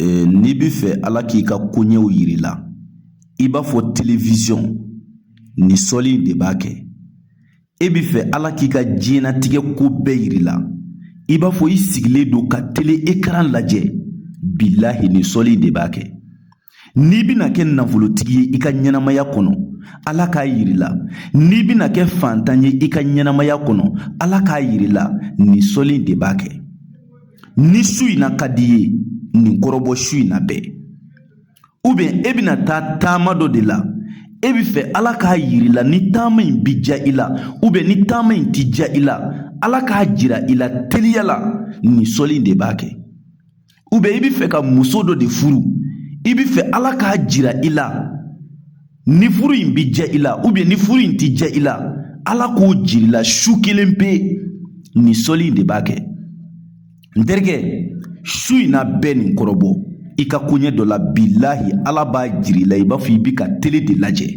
Ee n'i bɛ fɛ ala k'i ka koɲɛw jira i la i b'a fɔ telewisɔn nin sɔli in de b'a kɛ e bɛ fɛ ala k'i ka diɲɛnatigɛ ko bɛɛ jira i la i b'a fɔ i sigilen don ka tele ekaran lajɛ bilahi nin sɔli in de b'a kɛ N'i bɛna kɛ nafolotigi ye i ka ɲɛnamaya kɔnɔ ala k'a jira i la n'i bɛna kɛ fantan ye i ka ɲɛnamaya kɔnɔ ala k'a jira i la nin sɔli in de b'a kɛ ni su in na ka d'i ye nin kɔrɔbɔ su in na bɛɛ ubiyɛn e bɛna taa taama dɔ de la e bɛ fɛ ala k'a jira i la ni taama in bɛ diya i la ubiyɛn ni taama in tɛ diya i la ala k'a jira i la teliya la nin sɔli in de b'a kɛ ubiyɛn i bɛ fɛ ka muso dɔ de furu i bɛ fɛ ala k'a jira i la ni furu in bɛ diya i la ubiyɛn ni furu in tɛ diya i la ala k'o jira i la su kelen pe nin sɔli in de b'a kɛ n terikɛ su in na bɛɛ nin kɔrɔbɔ i ka koɲɛ dɔ la bilahi ala b'a jira i la i b'a fɔ i bɛ ka tele de lajɛ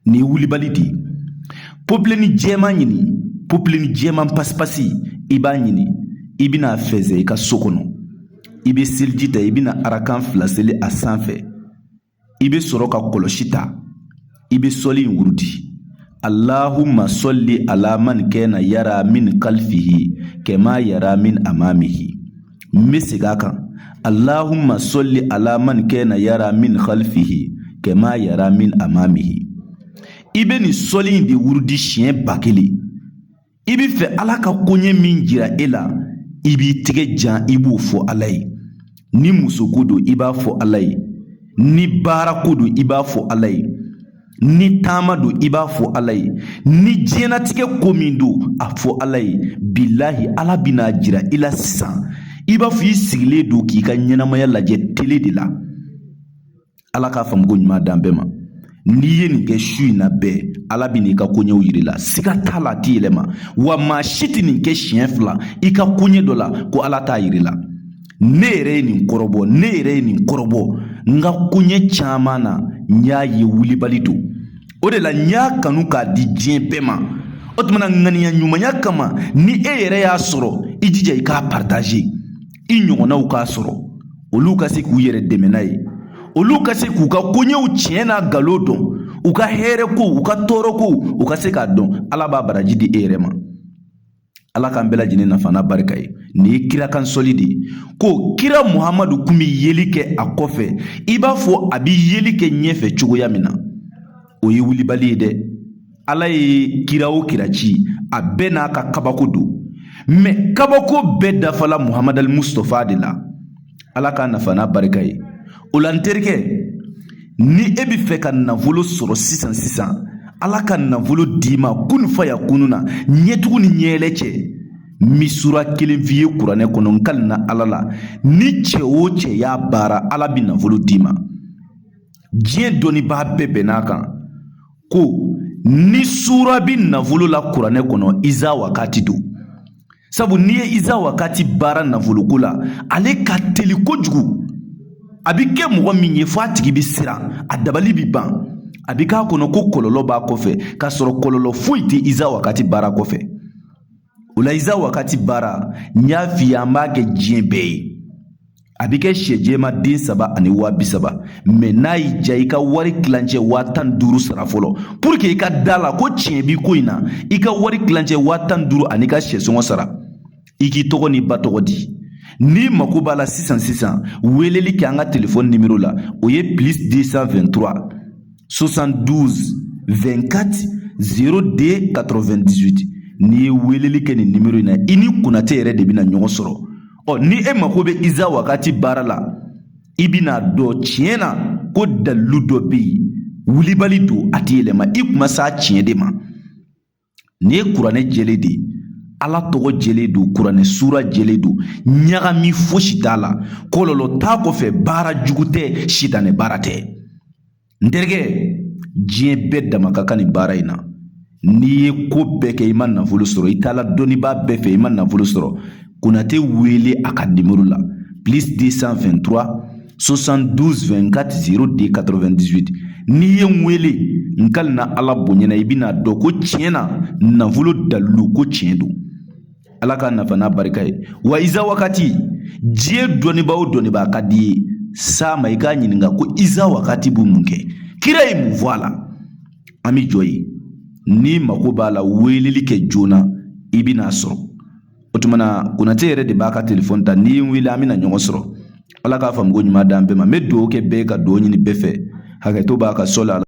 Nin ye wulibali de ye popileni jɛman ɲini popileni jɛman pasipasi i b'a ɲini i bɛna a fɛnsɛ i ka so kɔnɔ i bɛ seliji ta i bɛna arakan fila seli a sanfɛ i bɛ sɔrɔ ka kɔlɔsi ta i bɛ sɔli in wurudi allahumma sɔli ala man kana yara min kalifihi kama yara min amamihi n bɛ segin a kan allahumma sɔli ala man kana yara min halifihi kama yara min amamihi i bɛ nin sɔli in de wurudi siɲɛ ba kelen i bɛ fɛ ala ka koɲɛ min jira e la i b'i tɛgɛ jan i b'o fɔ ala ye ni musoko don i b'a fɔ ala ye ni baarako don i b'a fɔ ala ye Ni taama don i b'a fɔ Ala ye, ni diɲɛnatigɛ ko min don a fɔ Ala ye, bilahi Ala bɛna a jira i la sisan i b'a fɔ i sigilen don k'i ka ɲɛnamaya lajɛ tele de la. Ala k'a faamuko ɲuman d'an bɛɛ ma. N'i ye nin kɛ su in na bɛɛ, Ala bɛna i ka koɲɛw jira i la, siga t'a la a tɛ yɛlɛma, wa maa si tɛ nin kɛ siɲɛ fila i ka koɲɛ dɔ la ko Ala t'a jira i la. ne yɛrɛ ye nin kɔrɔbɔ ne yɛrɛ ye nin kɔrɔbɔ n ka koɲɛ caman na n y'a ye wulibali don o de la n y'a kanu k'a di diɲɛ bɛɛ ma o tuma na ŋaniya ɲumanya kama ni e yɛrɛ y'a sɔrɔ i jija i k'a partaze i ɲɔgɔnnaw k'a sɔrɔ olu ka se k'u yɛrɛ dɛmɛ n'a ye olu ka se k'u ka koɲɛw tiɲɛ n'a nkalon dɔn u ka hɛrɛ ko u ka tɔɔrɔ ko u ka se k'a dɔn ala b'a baraji di e yɛrɛ ma ala k'an bɛɛ lajɛlen nafa n'a barika ye nin ye kira kan sɔli de ye ko kira muhamadu kun bi yeli kɛ a kɔfɛ i b'a fɔ a bi yeli kɛ ɲɛfɛ cogoya min na o ye wulibali ye dɛ ala ye kira o kira ci a bɛɛ n'a ka kabako don mɛ kabako bɛɛ dafala muhamadu al mustafa de la ala k'a nafa n'a barika ye o la n terikɛ ni e bɛ fɛ ka nafolo sɔrɔ sisan sisan ala ka nafolo d'i ma kun fa yakunu na ɲɛtugu ni ɲɛɛlɛ cɛ n bi sura kelen f'i ye kuranɛ kɔnɔ n kalina ala la ni cɛ o cɛ y'a baara ala bɛ nafolo d'i ma diɲɛ dɔnnibaa bɛɛ bɛnn'a kan ko ni sura bi nafolo la kuranɛ kɔnɔ iza wakati don sabu n'i ye iza wakati baara nafoloko la ale ka teli kojugu a bi kɛ mɔgɔ min ye fɔ a tigi bi siran a dabali bi ban a bi k'a kɔnɔ ko kɔlɔlɔ b'a kɔfɛ k'a sɔrɔ kɔlɔlɔ foyi tɛ iza wakati baara kɔfɛ o la iza wakati baara n y'a f'i ye an b'a kɛ diɲɛ bɛɛ ye A bɛ kɛ sɛ jɛman den saba ani waa bi saba mais n'a y'i diya i ka wari tilancɛ waa tan ni duuru sara fɔlɔ pour que i ka d'a la ko tiɲɛ bi ko in na i ka wari tilancɛ waa tan ni duuru an'i ka sɛ sɔngɔ sara i k'i tɔgɔ n'i ba tɔgɔ di n'i mako b'a la sisan sisan weleli kɛ an ka telefɔni nimero la o ye plus 223 72 24 02 98 n'i ye weleli kɛ nin nimero in na i ni konate yɛrɛ de bɛna ɲɔgɔn sɔrɔ ɔ ni e mako bɛ iza wakati baara la i bɛn'a dɔn tiɲɛ na ko dalilu dɔ bɛ yen wulibali don a tɛ yɛlɛma i kuma s'a tiɲɛ de ma nin ye kuranɛ jɛlen de ye ala tɔgɔ jɛlen don kuranɛ sura jɛlen don ɲagami fosi t'a la kɔlɔlɔ t'a kɔfɛ baara jugu tɛ sitanɛ baara tɛ n terikɛ diɲɛ bɛɛ dama ka kan nin baara in na n'i ye ko bɛɛ kɛ i ma nafolo sɔrɔ i taala dɔnnibaa bɛɛ fɛ i ma nafolo sɔrɔ konate wele a ka nimoro la plus 223 72 24 02 98 n'i ye n wele n kalina ala bonya na i bɛn'a dɔn ko tiɲɛ na nafolo dalilu ko tiɲɛ don ala k'a nafa n'a barika ye wa iza wakati diɲɛ dɔnnibaa o dɔnnibaa ka d'i ye s'a ma i k'a ɲininka ko iza wakati bɛ mun kɛ kira ye mun fɔ a la an bɛ jɔ yen n'i mako b'a la weleli kɛ joona i bɛn'a sɔrɔ o tuma na konate yɛrɛ de b'a ka telefɔni ta n'i ye n wele an bɛna ɲɔgɔn sɔrɔ ala k'a faamuko ɲuman d'an bɛɛ ma n bɛ dugawu kɛ bɛɛ ka dugawu ɲini bɛɛ fɛ hakɛto b'a kan sɔli a la